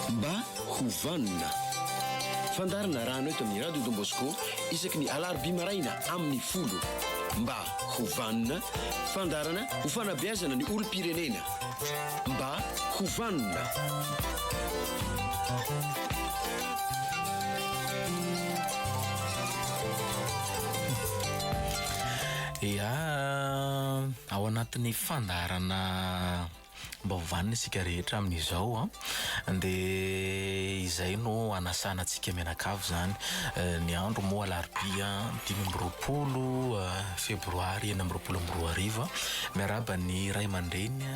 Mba ho vanona. Fandaharana Rano eto amin'ny Radio Don Bosco isaky ny alarobia maraina amin'ny folo. Mba ho vanona, fandaharana ho fanabeazana ny olom-pirenena. Mba ho vanona. Ia. Ao anatin'ny fandaharana Mbao vanona isika rehetra amin'izao an! dia izay no hanasana antsika mianakavy izany. Ny andro moa alarobia dimy amby roapolo febroary enina amby roapolo amby roa arivo an! Miarahaba ny ray aman-dreny,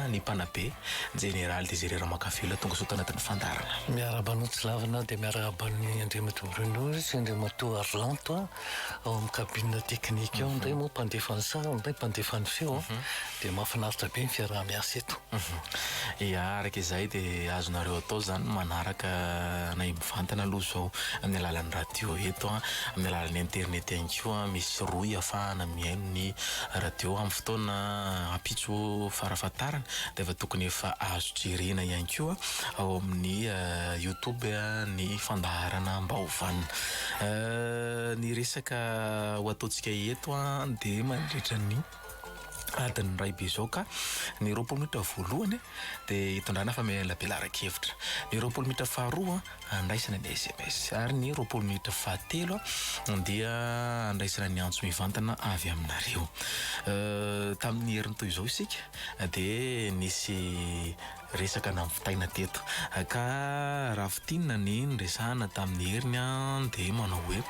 ny mpanabe, Jeneraly Désiré Ramakavelo tonga soa tao anatin'ny fandaharana. Miarahaba anao Tsilavina dia miarahaba an'i Andriamatoa Bruno sy Andriamatoa Arlanto an! Ao amin'ny cabine technique ao indray moa mpandefa ny sary indray mpandefa ny feo an, dia mahafinaritra be ny fiaraha-miasa eto. Ia, araka izay dia azonareo atao izany ny manaraka anay mivantana aloha izao amin'ny alalan'ny radio eto an, amin'ny alalan'ny internet ihany koa an, misy rohy ahafahana mihaino ny radio amin'ny fotoana ampitso farafahatarany dia efa tokony efa azo jerena ihany koa ao amin'ny youtube ny fandaharana Mbaovana. Ny resaka ho ataontsika eto an dia mandritra ny adin'ny iray be izao ka ny roapolo minitra voalohany dia hitondrana famelabelaran-kevitra, ny roapolo minitra faharoa handraisana ny sms ary ny roapolo minitra fahatelo dia handraisana ny antso mivantana avy aminareo. Tamin'ny heriny toy izao isika dia nisy. Resaka nampitaina teto ka raha fintinina ny niresahana tamin'i Heriny an dia manao hoe,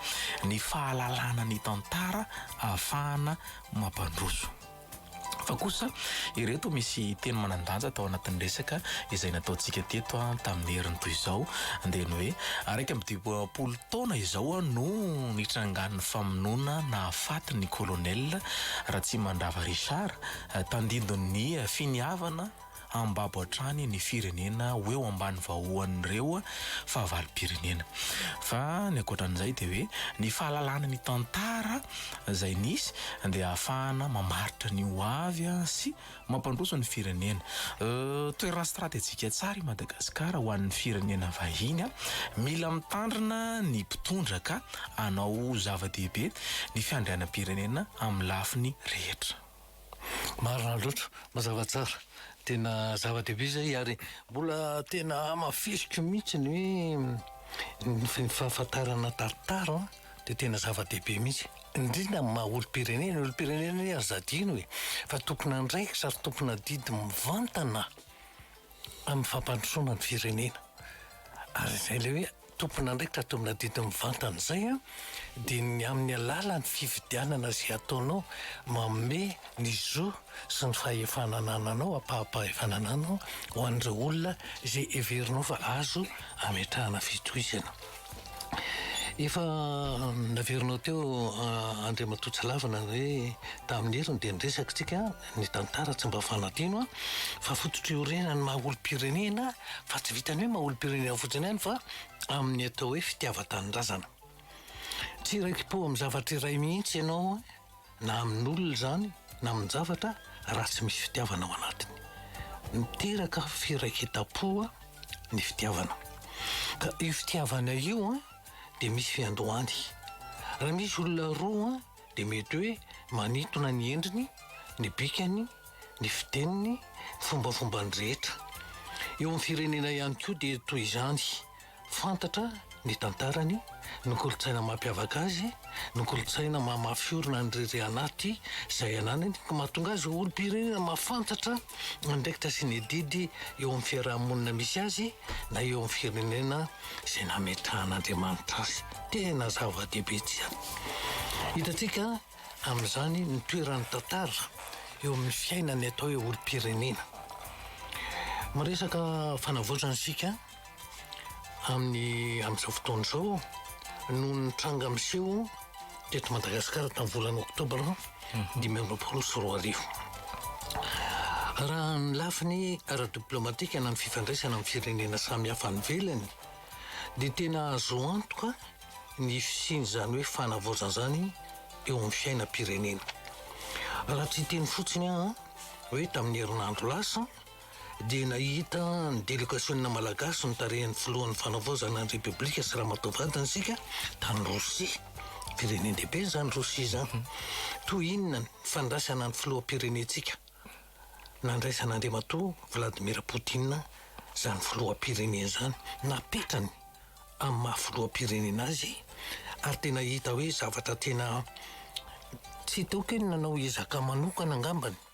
ny fahalalana ny tantara ahafahana mampandroso. Fa kosa ireto misy teny manan-danja tao anatin'ny resaka izay nataontsika teto an tamin'i Heriny toy izao dia ny hoe, iraika amby dimampolo taona izao an no nitrangan'ny famonoana nahafaty ny Colonel Ratsimandrava Richard tandindon'ny finiavana hambabo hatrany ny firenena ho eo ambany vahoan'ireo fahavalom-pirenena. Fa ny ankoatran'izay dia hoe ny fahalalana ny tantara izay nisy dia ahafahana mamaritra ny ho avy sy mampandroso ny firenena. Toerana stratejika tsara i Madagasikara ho an'ny firenena vahiny. Mila mitandrina ny mpitondra ka hanao zava-dehibe ny fiandrianam-pirenena amin'ny lafiny rehetra. Marina loatra, mazava tsara. Tena zava-dehibe izay ary mbola tena hamafisiko mihitsy ny hoe ny fahafantarana tantara an, dia tena zava-dehibe mihitsy. Indrindra amin'ny maha olom-pirenena. Ny olom-pirenena anie aza adino e, fa tompon'andraikitra ary tompon'adidy mivantana amin'ny fampandrosoana ny firenena. Ary izay ilay hoe tompon'andraikitra domina didy mivantana izay an, dia ny amin'ny alalan'ny fifidianana izay ataonao, manome ny zo sy ny fahefana anananao, ampaham-pahefana anananao ho an'ireo olona izay heverinao fa azo ametrahana fitohizana. Efa naverinao teo Andriamatoa tsy lavina hoe tamin'ny heriny dia niresaka tsika ny tantara tsy mba fanadino an, fa fototry orena ny maha olompirenena fa tsy vitan'ny hoe maha olompirenena fotsiny ihany fa amin'ny atao hoe fitiavan-tanindrazana. Tsy iraiki-po amin'ny zavatra iray mihitsy ianao. Na amin'olona izany na amin-javatra raha tsy misy fitiavana ao anatiny. Miteraka firaiketam-po ny fitiavana. Ka io fitiavana io dia misy fiandohany. Raha misy olona roa dia mety hoe manintona ny endriny, ny bikany, ny fiteniny, ny fombafombany rehetra. Eo amin'ny firenena ihany koa dia toy izany. Fantatra ny tantarany, ny kolontsaina mampiavaka azy, ny kolontsaina maha mafy orina ny riri anaty izay ananany ka mahatonga azy ho olom-pirenena mahafantatra ny andraikitra sy ny adidy eo amin'ny fiaraha-monina misy azy na eo amin'ny firenena izay nametrahan'Andriamanitra azy. Tena zava-dehibe tsy an. Hitantsika amin'izany ny toeran'ny tantara eo amin'ny fiainan'ny atao hoe olom-pirenena. Miresaka fanavaozana isika. amin'ny amin'izao fotoana izao no nitranga miseho teto Madagasikara tamin'ny volana oktobra mhm. dimy amby roapolo sy roa arivo. Raha ny lafiny ara-diplomatika na ny fifandraisana amin'ny firenena samihafa any ivelany dia tena azo antoka ny fisian'izany hoe fanavaozana izany eo amin'ny fiainam-pirenena. Raha tsy teny fotsiny aho hoe tamin'ny herinandro lasa dia nahita ny delegasionina malagasy notarihan'ny filohan'ny Fanavaozana ny Repoblika sy ramatoa vadiny isika tany Rosia. Firenen-dehibe izany Rosia izany. Toy inona ny fandraisana ny filoham-pirenentsika? Nandraisana Andriamatoa Vladimir Poutine izany filoham-pirenena izany. Napetrany amin'ny maha filoham-pirenena azy ary tena hita hoe zavatra tena tsy hita aoka io ny nanao ezaka manokana angambany.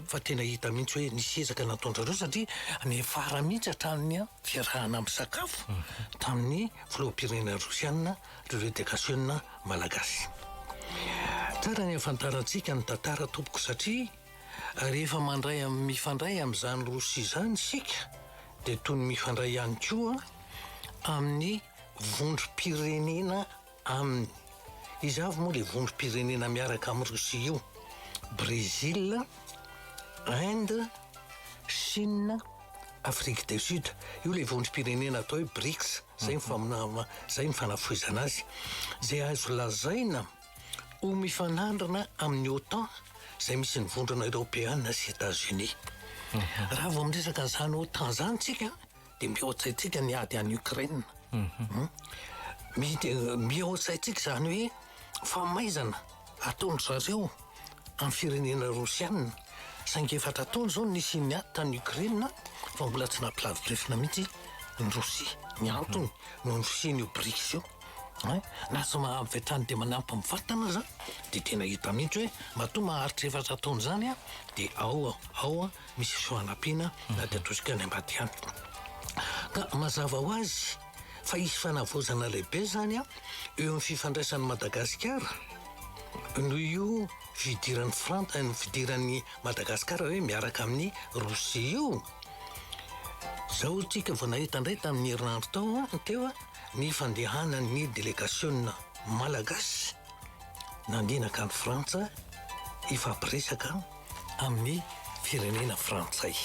fa tena hita mihitsy hoe nisy ezaka nataon'zareo satria niafara mihitsy hatramin'ny fiarahana misakafo tamin'ny filoham-pirenena rosiana ireo redegasiona malagasy. Tsara ny ahafantarantsika ny tantara tompoko satria rehefa mandray am mifandray amin'izany rosia izany isika dia toy ny mifandray ihany koa amin'ny vondrom-pirenena Aminy. Iza avy moa ilay vondrom-pirenena miaraka amin'i Rosia io? Brésil, Inde, Chine, Afrique du Sud. Io ilay vondrom-pirenena atao hoe BRICS. Izay ny, izay ny fanafohezana azy. Izay azo lazaina ho mifanandrina amin'ny OTAN, izay misy ny vondrona eropeana sy États-Unis. Raha vao miresaka an'izany OTAN izany tsika, dia mihoatra antsika ny ady any Ukraine. Mhm. Mihoatra antsika izany hoe famaizana ataon'ny zareo amin'ny firenena rosianina. Saingy efatra taona izao ny nisian'ny ady tany Ukraine fa mbola tsy nampilavi-drefona mihitsy ny Rosia. Ny mhm. antony no nisian'io BRICS io. Eh? Na tsy mahavy hatrany dia manampy amin'ny vatana aza dia tena hita mihitsy hoe matoa maharitra efatra taona izany dia ao ao misy soanampiana na dia atosika any ambadiky any. Ka mazava ho azy fa hisy fanavaozana lehibe izany eo amin'ny fifandraisan'i Madagasikara noho io fidiran'ny Frantsa, ny fidiran'ny Madagasikara hoe miaraka amin'ny Rosia io. Zao tsika vao nahita indray tamin'ny herinandro tao an, teo ny fandehanan'ny delegasiona malagasy nandinika an'i Frantsa hifampiresaka amin'ny firenena frantsay.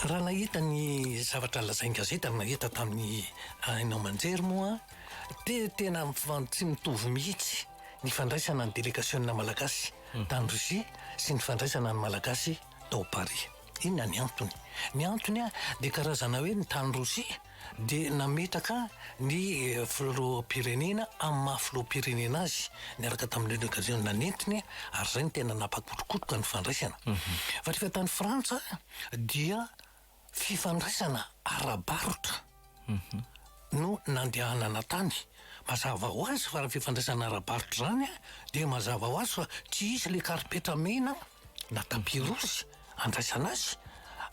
Raha nahita ny zavatra lazain'ny gazety ary nahita tamin'ny haino aman-jery moa dia tena tsy mitovy mihitsy ny fandraisana ny delegasiona malagasy tany Russie sy ny fandraisana ny malagasy tao Paris. Inona ny antony? Ny antony dia karazana hoe ny tany Russie dia nametraka ny filoham-pirenena amin'ny maha filoham-pirenena azy niaraka tamin'ireny occasion nanentiny ary izay no tena nampakorokotoka ny fandraisana. Fa rehefa tany Frantsa dia fifandraisana ara-barotra no nandehanana tany. Mazava ho azy fa raha fifandraisana ara-barotra izany dia mazava ho azy fa tsy hisy ilay karipetra mena. na tampirosy andraisana azy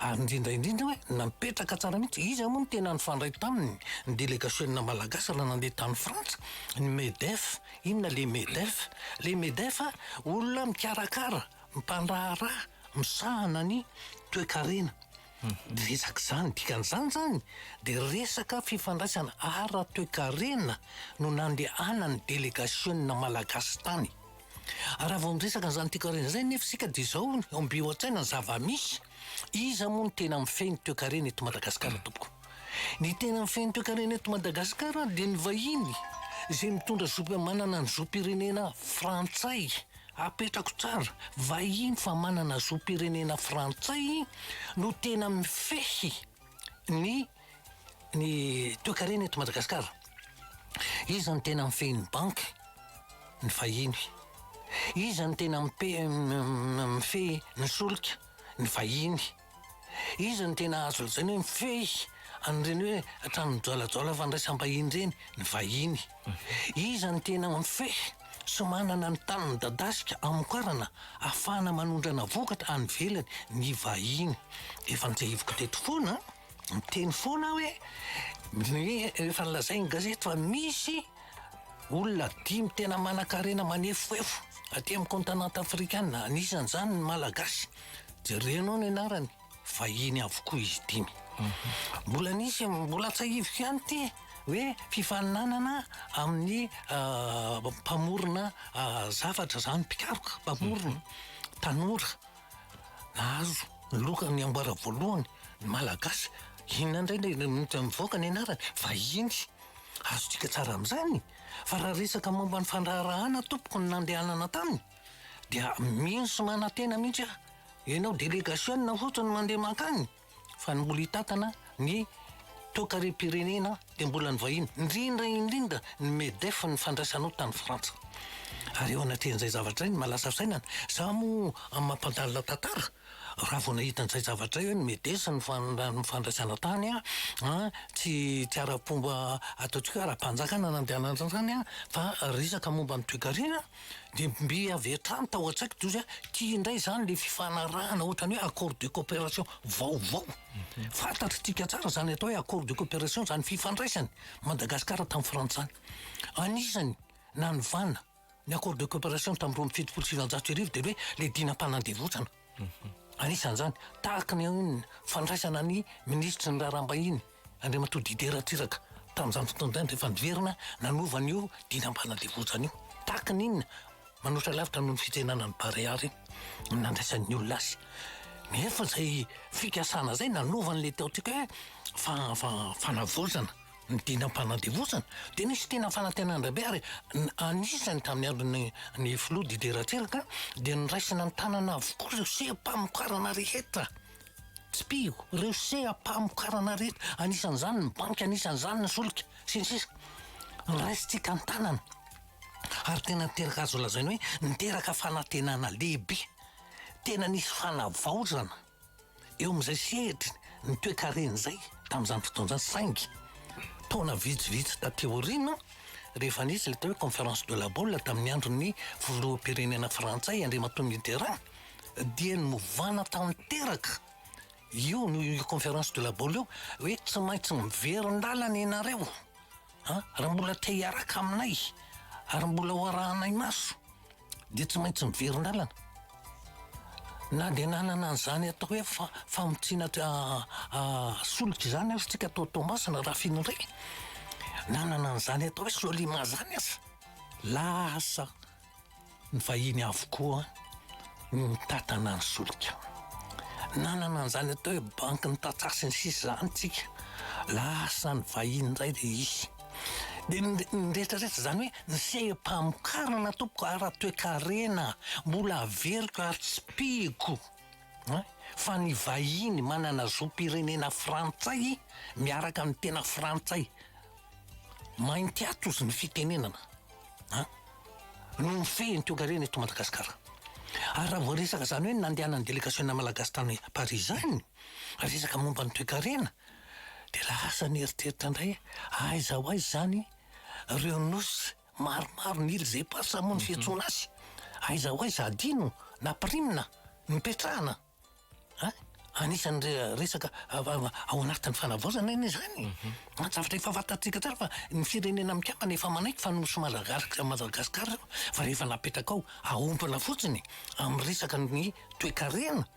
ary indrindra indrindra hoe napetraka tsara mihitsy iza moa no tena nifandray taminy ny delegasiona malagasy raha nandeha tany frantsa ny medef inona le medef le medef a olona mikarakara mpandraharaha misahana ny toekarena dia resaka izany dikan'izany izany dia resaka fifandraisana ara toekarena no nandehanan'ny delegasiona malagasy tany Raha vao miresaka an'izany toekarena izany anefa isika dia izao no ombiho an-tsaina ny zava-misy, iza moa no tena mifehy ny toekarena eto Madagasikara tompoko? Ny tena mifehy ny toekarena eto Madagasikara dia ny vahiny izay mitondra zoby manana ny zom-pirenena frantsay, apetrako tsara, vahiny fa manana zom-pirenena frantsay no tena mifehy ny Ny toekarena eto Madagasikara, iza no tena mifehy ny banky? Ny vahiny. Iza no tena mifehy ny solika? Ny vahiny. Iza no tena azo lazaina hoe mifehy an'ireny hoe trano mijoalajoala fandraisam-bahiny ireny? Ny vahiny. Iza no tena mifehy sy manana ny tany midadasika hamokarana ahafahana manondrana vokatra any ivelany? Ny vahiny. Efa nitsahiviko teto foana an! Miteny foana aho hoe ny efa nolazain'ny gazety fa misy olona dimy tena manan-karena manefoefo aty amin'ny kontinanta afrikana, anisan'izany ny Malagasy. Jerenao ny anarany, vahiny avokoa izy dimy. Mbola nisy, mbola tsahiviko ihany ity hoe fifaninanana amin'ny mpamorona zavatra izany, mpikaroka, mpamorona, tanora. Nahazo ny loka ny amboara voalohany ny Malagasy. Inona indray ilay mivoaka ny anarany? Vahiny. Azontsika tsara amin'izany. Fa raha resaka momba ny fandraharahana tompoko ny nandehanana taminy dia mino sy manantena mihitsy aho. Ianao delegasionina fotsiny no mandeha mankany. Fa ny mbola hitantana ny toekarem-pirenena dia mbola ny vahiny, indrindra indrindra ny Medef ny fandraisanao tany Frantsa. Ary eo anatrehan'izay zavatra izay ny malaza fisainana, za moa amin'ny maha mpandalina tantara, raha vao nahita an'izay zavatra izay hoe ny Medes no fandraisana tany an, tsy ara-pomba ataontsika hoe ara-panjakana nandehanan'izany an, fa resaka momba ny toekarena. Dia mby avy hatrany tao an-tsaiko toy izay hoe ity indray izany ilay fifanarahana ohatran'ny hoe accord de coopération vaovao. Fantatr'itsika tsara izany atao hoe accord de coopération izany fifandraisany Madagasikara tamin'ny frantsay. Anisany nanovana ny accord de coopération tamin'ny roa amby fitopolo sy sivinjato sy arivo dia hoe ilay dinam-panandevozana. Anisan'izany, tahaka ny fandraisana ny minisitry ny Raharaham-bahiny, Andriamatoa Didier Ratsiraka, tamin'izany fotoana izany rehefa niverina nanova an'io dinam-panandevozana io. Tahaka ny inona? Manoatra lavitra noho ny fitsenana ny Barea ary ny nandraisan'ny olona azy. Nefa izay fikasana izay nanova an'ilay tao an-tsika hoe fa-fa-fanavaozana. ny tena mpanadevozana dia nisy tena fanantenandrabe ary anisany tamin'ny andron'ny ny filoha Didier Ratsiraka dia niraisina ny tanana avokoa ireo seha-pamokarana rehetra tsipiho ireo seha-pamokarana rehetra anisan'izany ny banky anisan'izany ny solika sy ny sisa niraisintsika ny tanana ary tena niteraka azo lazaina hoe niteraka fanantenana lehibe tena nisy fanavaozana Eo amin'izay sehatry ny toekarena izay tamin'izany fotoana izany saingy taona vitsivitsy taty aoriana rehefa nisy ilay atao hoe conférence de la boule tamin'ny andron'ny filoham-pirenena frantsay Andriamatoa Mitterrand dia novana tanteraka io noho io conférence de la boule io hoe tsy maintsy miverin-dalana ianareo an! raha mbola te hiaraka aminay ary mbola ho arahanay maso dia tsy maintsy miverin-dalana. Na dia nanana an'izany atao hoe fa, famotsiana ah, ah, solika izany aza tsika tao Toamasina raha fino indray. Nanana an'izany atao hoe Solima izany aza. Lasa ny vahiny avokoa no mitantana ny solika. Nanana an'izany atao hoe banky ny tantsaha sy ny sisa izany tsika. Lasa ny vahiny indray dia izy. Dia ny rehetrarehetra izany hoe ny seham-pamokarana tompoko ara-toekarena mbola averiko ary tsy pihiko an! fa ny vahiny manana zom-pirenena frantsay miaraka amin'ny tena frantsay mainty atozy ny fitenenana an! no mifehy ny toekarena eto Madagasikara. Ary raha vao resaka izany hoe nandehanan'ny delegasiona malagasy tany Paris izany, resaka momba ny toekarena, Dia lasa nieritreritra indray aho aiza ho aiza izany ireo nosy maromaro ny îles éparses moa no fiantsoana azy, aiza ho aiza adino na pirimina no ipetrahana an! Anisan'ny re- resaka av- av- ao anatin'ny fanavaozana anie izany e! Zavatra efa fantatsika tsara fa ny firenena mikambana efa manaiky fa nosy Madagasika- Madagasikara ireo fa rehefa napetraka ao, aompina fotsiny amin'ny resaka ny toekarena.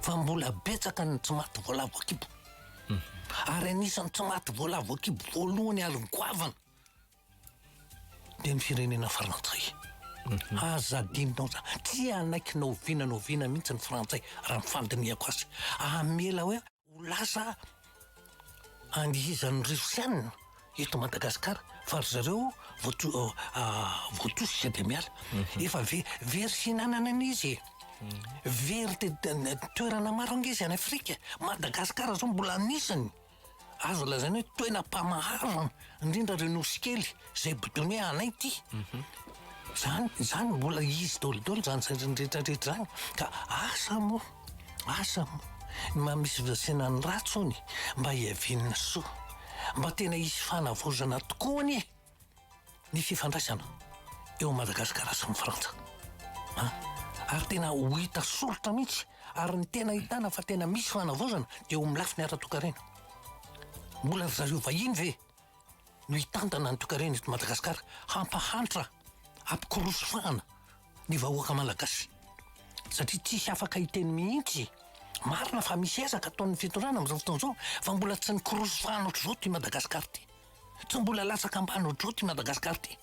fa mbola betsaka ny tsy maty voalavo an-kibo. Ary anisan'ny tsy maty voalavo an-kibo voalohany ary goavana dia ny firenena frantsay. Aza adinonao za, tsy hanaiky na oviana na oviana mihitsy ny frantsay raha ny fandinihako azy. Hamela hoe. Ho lasa angizan'ny Rosiana eto Madagasikara fa ry zareo voatosika dia miala. Mhm. Efa very sy hinanana an'izy e. Very toerana maro ange izy any Afrika. Madagasikara zao mbola anisany azo lazaina hoe toena mpamahazo indrindra reo nosy kely. Zay bidone anay ty. Zany, zany mbola izy dolo dolo zany zany rehetra rehetra zany. Ka asa mo, asa mo, ny maha misy fizasena ny ratsy ony mba hiavian'ny soa. Mba tena hisy fanavaozana tokoa anie ny fifandraisana eo Madagasikara sy ny Frantsa. An, ary tena ho hita soritra mihitsy, ary ny tena ahitana fa tena misy fanavaozana dia eo amin'ny lafiny ara-toekarena. Mbola ry zareo vahiny ve no hitantana ny toekarena eto Madagasikara, hampahantra, hampikoroso fahana ny vahoaka Malagasy satria tsisy afaka hiteny mihitsy. Marina fa misy ezaka ataon'ny fitondrana amin'izao fotoana izao fa mbola tsy nikoroso fahana ohatr'izao ity Madagasikara ity. Tsy mbola latsaka ambany ohatr'izao ity Madagasikara ity.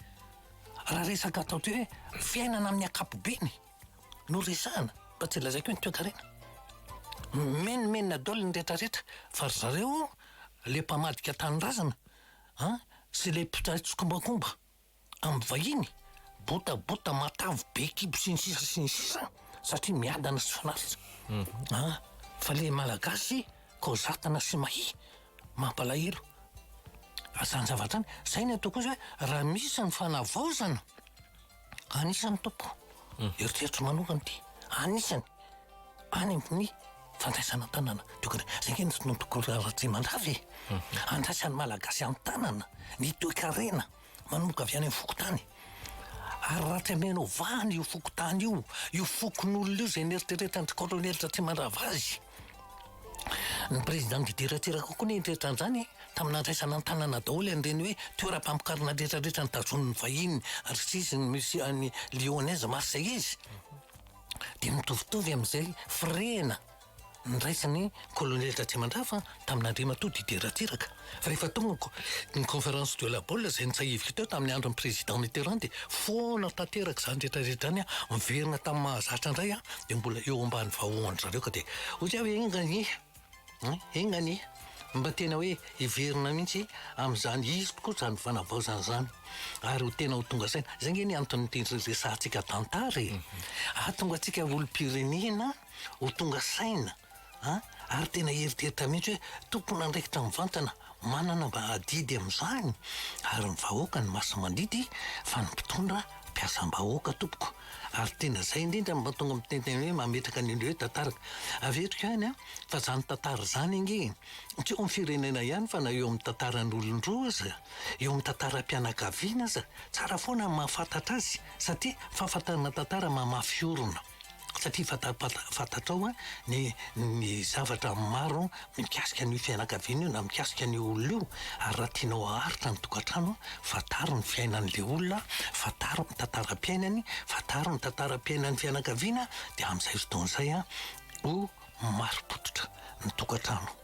Raha resaka atao hoe fiainana amin'ny ankapobeny no resahana fa tsy lazaiko hoe ny toekarena. Mimenomenona daholo ny rehetrarehetra fa ry zareo le mpamadika tanindrazana an sy le mpitray tsikombakomba am vahiny bota bota matavy be kibo sy ny sisa sy ny sisa an satria miadana sy fanatitra an fa le malagasy kozatana sy mahia mampalahelo zany zavatra zany zay ny ataoko ozy oe raha misy ny fanavaozana Anisany Tompo, eritreritro manokana ity, anisany any amin'ny fandraisana an-tanana tokony zay nge nisy notokolo Ratsimandrava e andraisan'ny malagasy an-tanana ny toekarena manomboka avy any amin'ny fokontany ary raha tsy amena ovahana io fokontany io io fokonolona io zay neritreretan'ny kolonely Ratsimandrava azy Ny Prezidà nidiran-tsira kokoa ny tretran'izany tamin'ny nandraisana an-tanana daholo an'ireny hoe toeram-pamokarana retraretra notazonin'ny vahiny RISIS ny Musée an'i Lyonnaise Marseillaise dia mitovitovy amin'izay firehana niraisin'ny Kolonely Ratrimandrava tamin'Andriamatoa Didier Ratsiraka. Rehefa tonga ny Conférence de la Baule izay nitsahiviko teo tamin'ny andron'ny Président Mitterrand dia foana tanteraka izany rehetrarehetra izany, miverina tamin'ny mahazatra indray aho dia mbola eo ambany vahoan-dry zareo ka dia hoy aho hoe enga anie an! enga anie! mba tena hoe hiverina mihitsy amin'izany hisp koa izany fanavaozana izany ary ho tena ho tonga saina. Izay ange ny anton'ity resahantsika tantara e! Hahatonga antsika olom-pirenena ho tonga saina. An! ary tena eritreritra mihitsy hoe tompon'andraikitra mivantana manana mba adidy amin'izany ary ny vahoaka no masi-mandidy fa ny mpitondra mpiasam-bahoaka tompoko ary tena zay indrindra no mahatonga miteny hoe mametraka ny hoe tantara averiko ihany an! fa zany tantara zany ange tsy eo amin'ny firenena ihany fa na eo amin'ny tantaran'olon-droa aza eo amin'ny tantaram-pianakaviana aza tsara foana ny mahafantatra azy satria fahafantarana tantara mamafy orina satria fantapata fantatrao a ny ny zavatra maro mikasika an'io fianakaviana io na mikasika an'io olona io ary raha tianao haharitra ny tokantrano fantaro ny fiainan'le olona fantaro ny tantaram-piainany fantaro ny tantaram-piainan'ny fianakaviana de am'zay fotoana zay a ho marim-pototra ny tokantrano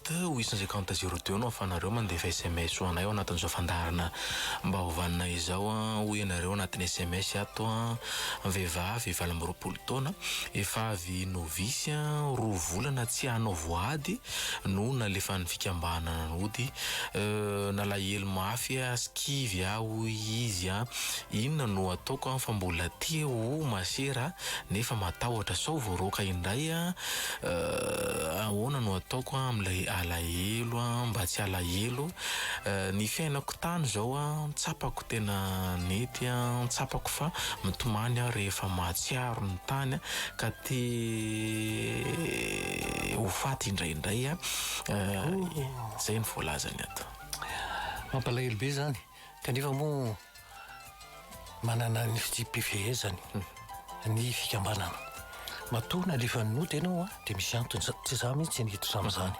Teo ho isan'izay kaonty zéro deux no ahafahanareo mandefa sms ho anay ao anatin'izao fandaharana Mba ho vanona izao an! hoy ianareo anatin'ny sms ato an! Vehivavy valo amby roapolo taona, efa avy novice an! roa volana tsy hanao voady no nalefan'ny fikambanana nody, euh nalahelo mafy ah! sy kivy ah! hoy izy an! inona no ataoko an! fa mbola te ho masera nefa matahotra sao voaroaka indray an! Euh ahoana no ataoko an amin'ilay alahelo an mba tsy alahelo Euh ny fiainako tany izao an tsapako tena nety an tsapako fa mitomany aho rehefa mahatsiaro ny tany ka te ho faty indraindray an Euh izay no voalazany ato. Mampalahelo be izany. Kanefa moa manana ny fitsipi-pifehezany ny fikambanana. Matoa nalefan'ny nota ianao a, dia misy antony, za- tsy za mihitsy niditra tamin'izany.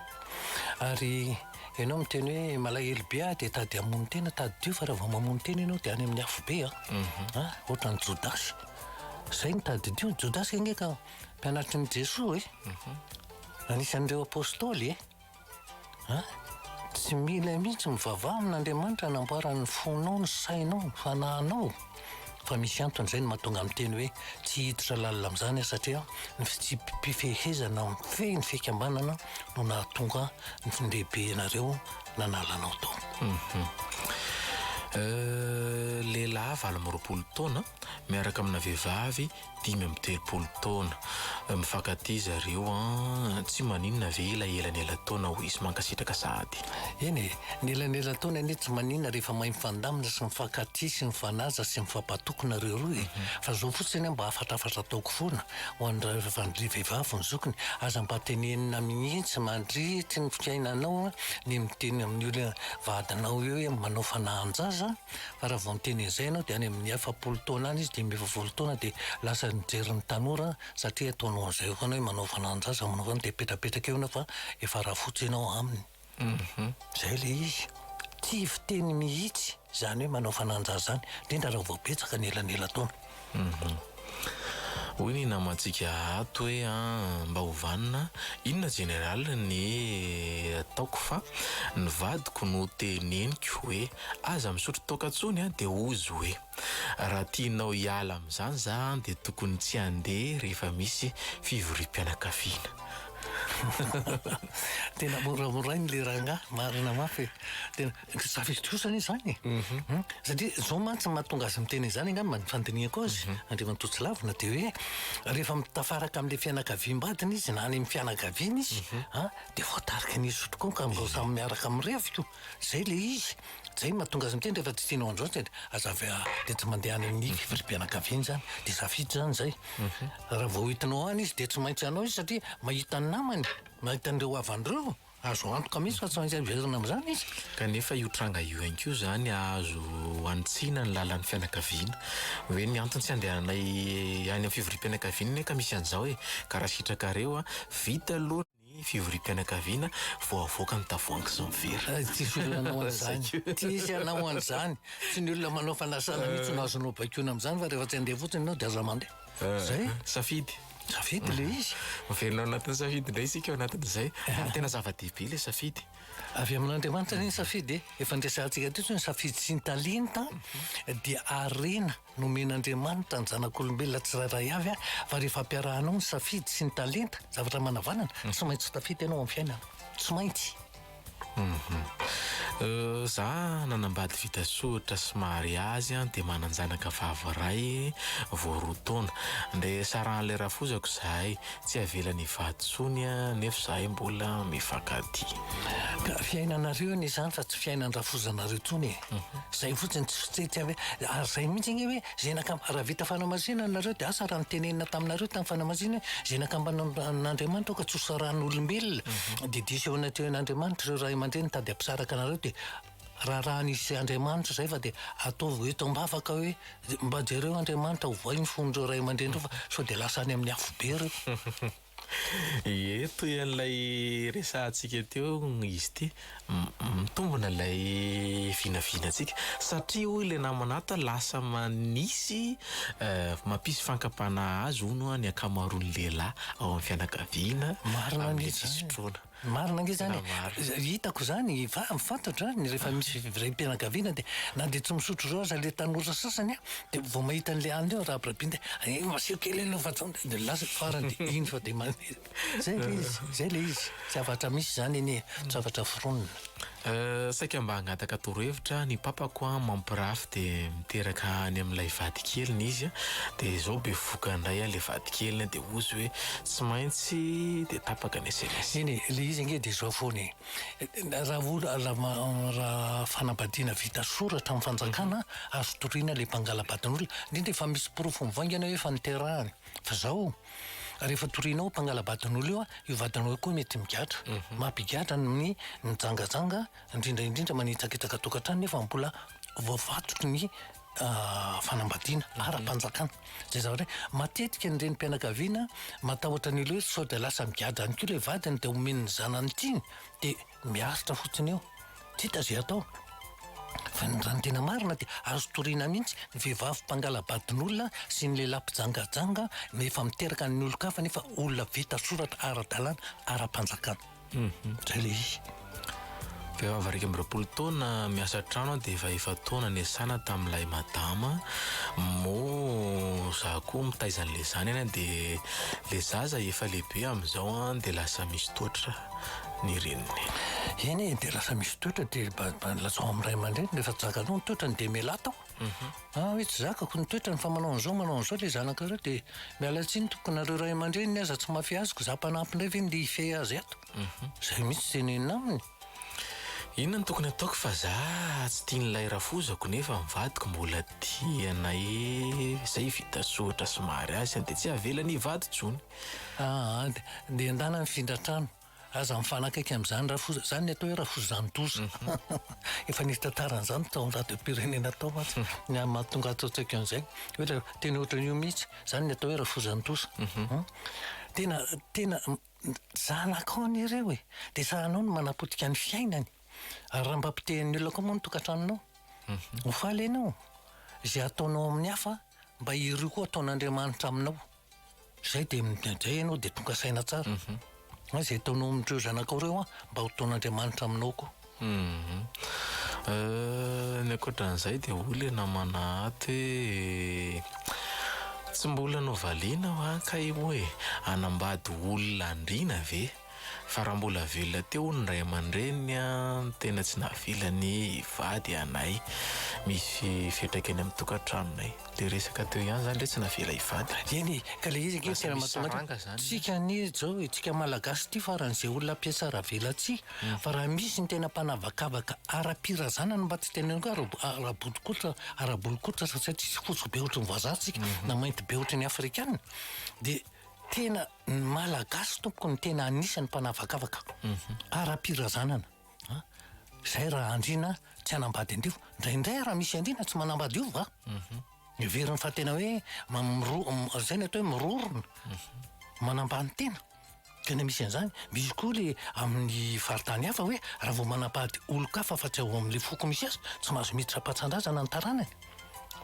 Ary ianao miteny hoe malahelo be aho dia tady hamono tena, tadidio fa raha vao mamono tena ianao dia any amin'ny afobe a. A, ohatran'i Jodasy. Izay no tadidio, Jodasy ange ka mpianatrin'i Jesoa e. Anisan'ireo apostoly e. An! Tsy mila mihitsy mivavaha amin'Andriamanitra hanamboarany ny fonao, ny sainao, ny fanahinao fa misy antony izay no mahatonga miteny hoe tsy hiditra lalina amin'izany aho satria ny fitsipi-pifehezana mifehy ny fikambanana no nahatonga ny lehibenareo nanala anao tao. Lehilahy valo amby roapolo taona miaraka amina vehivavy dimy amby telopolo taona. Mifankatia zareo an! Tsy maninona ve ilay elanelan-taona hoy izy mankasitraka sahady. Eny e! Ny elanelan-taona anie tsy maninona rehefa mahay mifandamina sy mifankatia sy mifanaja sy mifampatoky nareo roa e! Fa izao fotsiny aho mba hafatrafatra ataoko foana ho an'ireo vehivavy ho ny zokiny, aza mba tenenina mihitsy mandritry ny fiainanao ny miteny amin'ny vadinao hoe manao fanahan-jaza, fa raha vao miteny an'izay ianao dia any amin'ny efapolo taona any izy dimy ambin'ny folo taona dia lasa nijery ny tanora satria ataonao an'izay eo foana hoe manao fanananjaza manao foana dia petrapetraka eo ianao fa efa rafotsy ianao aminy mhm. izay ilay izy tsy fiteny mihitsy izany hoe manao fanananjaza izany indrindra raha vao betsaka ny elanelan-taona Hoy ny namantsika ato hoe an, mba ho vanona inona Général ny ataoko fa ny vadiko no teneniko hoe aza misotro toaka tsony an dia ozy hoe raha tianao hiala amin'izany za an dia tokony tsy handeha rehefa misy fivoriam-pianakaviana. Tena moramorainy le rangahy, marina mafy e! Safidy kosa anie izany e. Mhm. Satria izao mantsy no mahatonga azy miteny izany angamba ny fandinihako azy, mhm. Andriamatoa Tsilavina, dia hoe rehefa mitafaraka amin'ilay fianakaviam-badiny izy na any amin'ny fianakaviany izy, mhm. dia voatarika ny izy tokoa ka amin'izao samy miaraka amin'ny reviko, izay ilay izy. Izay no mahatonga azy miteny rehefa tsy tianao an'izao dia aza avy dia tsy mandeha any amin'ny fivoriam-pianakaviana izany, dia safidy izany izay. Raha vao hitanao any izy dia tsy maintsy anao izy satria mahita ny namany, mahita an'ireo havany ireo. Azo antoka mihitsy fa tsy maintsy hiverina amin'izany izy. Kanefa io tranga io ihany koa izany azo hanitsiana ny lalan'ny fianakaviana. Hoe ny antony tsy handehananay any amin'ny fivoriam-pianakaviana anie ka misy an'izao e! Ka raha sitrakareo an! Vita aloha ny fivoriam-pianakaviana vao avoaka ny tavoahangy sy ny vera. Tsisy olona hanao an'izany. Tsisy hanao an'izany. Tsy ny olona manao fanasana mihitsy no azonao baikoina amin'izany fa rehefa tsy handeha fotsiny ianao dia aza mandeha. Eh, Zay. eh, Safidy. Safidy le izy. Mivelona ao anatin'ny safidy indray isika ao anatin'izay. Ary tena zava-dehibe le safidy. Avy amin'Andriamanitra ny safidy e. Efa nresahantsika teto ny safidy sy ny talenta dia harena nomen'Andriamanitra ny zanak'olombelona tsirairay avy a, fa rehefa ampiarahanao ny safidy sy ny talenta, zavatra manavanana, tsy maintsy tafita ianao amin'ny fiainana. Tsy maintsy. Za nanambady vita soritra sy mariazy dia manan-janaka vavy iray vao roa taona. Andeha sarahan'ilay rafozako izahay. Tsy avelany hivady intsony nefa izahay mbola mifankatia. Ka fiainanareo anie izany fa tsy fiainan-drafozanareo intsony e! Zay fotsiny tsy tsy tsy avy ary zay mihitsy anie hoe zenaka raha vita fanamasinana nareo dia asa raha nitenenina taminareo tamin'ny fanamasinana hoe zenaka ambanan'Andriamanitra ka tsy hosarahan'olombelona mhm. dia diso eo anatrehan'Andriamanitra ireo ray aman-dreny nitady hampisaraka anareo dia raharahan'izy Andriamanitra zay fa dia ataovy eto am-bavaka hoe mba jereo Andriamanitra ho voay ny fon'ireo ray aman-dreny ireo fa sao dia lasa any amin'ny afobe ireo Ie, toy an'ilay resahantsika teo izy ity, mitombina ilay vinavinantsika. Satria hoy ilay namana ato, lasa manisy mampisy fankapana azy hono ny ankamaroan'ny lehilahy ao amin'ny fianakaviana amin'ny fisotroana. Marina ange zany e! Hitako zany, fantatra an, rehefa misy raim-pianakaviana dia na dia tsy misotro zao aza le tanora sasany an, dia vao mahita an'le alina eo rabirabiany dia eh maseho kely aloha fa zao, dia lasa farany dia iny sao dia mandeha. Zay le izy, zay le izy, zavatra misy zany anie, zavatra foronina. Euh, saika mba hangataka torohevitra ny papako an, mampirafy de miteraka any amin'ilay vadikeliny izy an, de zao bevoka indray an le vadikeliny an, de ozy hoe tsy maintsy, de tapaka ny sms. Eny e, le izy ange de zao foana e, raha oha, raha fanambadiana vita soratra amin'ny fanjakana azo toriana le mpangalabadin'olona, indrindra efa misy porofo mivaingana hoe efa niterahany, fa zao. Rehefa torianao mpangala-baton'olo io, io vatonao io koa mety migadra. Mampigadra ny mijangajanga, indrindra indrindra manitsakitsaka tokantrano nefa mbola voafatotry ny fanambadiana ara-panjakana. Izay zavatra hoe matetika ny renim-pianakaviana matahotra an'ilay hoe sao dia lasa migadra ihany koa ilay vadiny dia omen'ny zanany tiany dia miaritra fotsiny eo. Tsy hita izay atao. Fa ny raha ny tena marina dia azo toriana mihitsy ny vehivavy mpangala-badin'olona sy ny lehilahy mpijangajanga rehefa miteraka ny olon-kafa nefa olona vita soratra ara-dalàna ara-panjakana. Izay ilay izy. Vehivavy iraika amby roapolo taona miasa an-trano aho dia efa efa-taona niasana tamin'ilay madama. Moa za koa mitaiza an'ilay zanany dia ilay zaza efa lehibe amin'izao dia lasa misy toetra. ny reniny. Eny e, dia lasa misy toetra dia mba lazao amin'ny ray aman-dreny rehefa tsy zakanao ny toetrany dia mialà tao. Mhm. Ah hoe tsy zakako ny toetrany fa manao an'izao manao an'izao ilay zanakareo dia miala tsiny tompoko nareo ray aman-dreniny aza tsy mafy azoko za mpanampy indray ve ndeha hifehy azy ato. Mhm. Izay mihitsy tenenina aminy. Inona no tokony ataoko fa za tsy tian'ilay rafozako nefa ny vadiko mbola tia anay e. Izay vita soratra somary azy dia tsy avelany hivady intsony. Aah, dia endana mifindra trano. Aza mifanakaiky amin'izany Rafoza, izany ny atao hoe Rafozan-doza. Efa nisy tantara an'izany tao amin'ny radiom-pirenena tao mantsy, ny amin'ny mahatonga ahy tsy tsaiko an'izay. Hoe ilay teny ohatran'io mihitsy, izany ny atao hoe Rafozan-doza. Tena, tena, zanakao anie ireo e! Dia sahanao ny manapotika ny fiainany. Ary raha mba potehin'ny olona koa moa ny tokantranonao? Ho faly ianao. Izay ataonao amin'ny hafa, mba ireo koa ataon'Andriamanitra aminao. Zay dia midray ianao dia tonga saina tsara an! Izay ataonao amin'ireo zanakao ireo an, mba hotaon'Andriamanitra aminao koa. Ny ankoatran'izay dia hoy ilay namana ato hoe, tsy mbola novaliana ho'a kay ho'a e! Hanambady olona andriana ve? Fa raha mbola velona teo hono ny ray aman-dreniny an, tena tsy nahavelany hivady anay misy fetraka eny amin'ny tokantranonay. Ilay resaka teo ihany izany re tsy navela hivady re. Eny e, ka ilay izy ange tena mahatonga an, tsika anie izao, tsika malagasy ity faran'izay olona mpiatsara velatsihy, fa raha misy ny tena mpanavakavaka ara-pirazana no mba tsy teneniko hoe ara-bolikotra, ara-bolikotra satria tsisy fotsy be ohatry ny vazaha tsika na mainty be ohatry ny afrikana dia. Tena ny Malagasy tompoko ny tena anisany mpanavakavaka ara-pirazanana. Zay raha andriana tsy hanambady andivo. Indraindray raha misy andriana tsy manambady io va? Mhm. Heveriny fa tena hoe mamiro- zay ny atao hoe mirorona. Mhm. Manambany tena. Tena misy an'zany. Misy koa le amin'ny faritany hafa hoe raha vao manambady olon-kafa fa tsy ao amin'ny foko misy azy tsy mahazo miditra am-patsan-drazana ny taranany.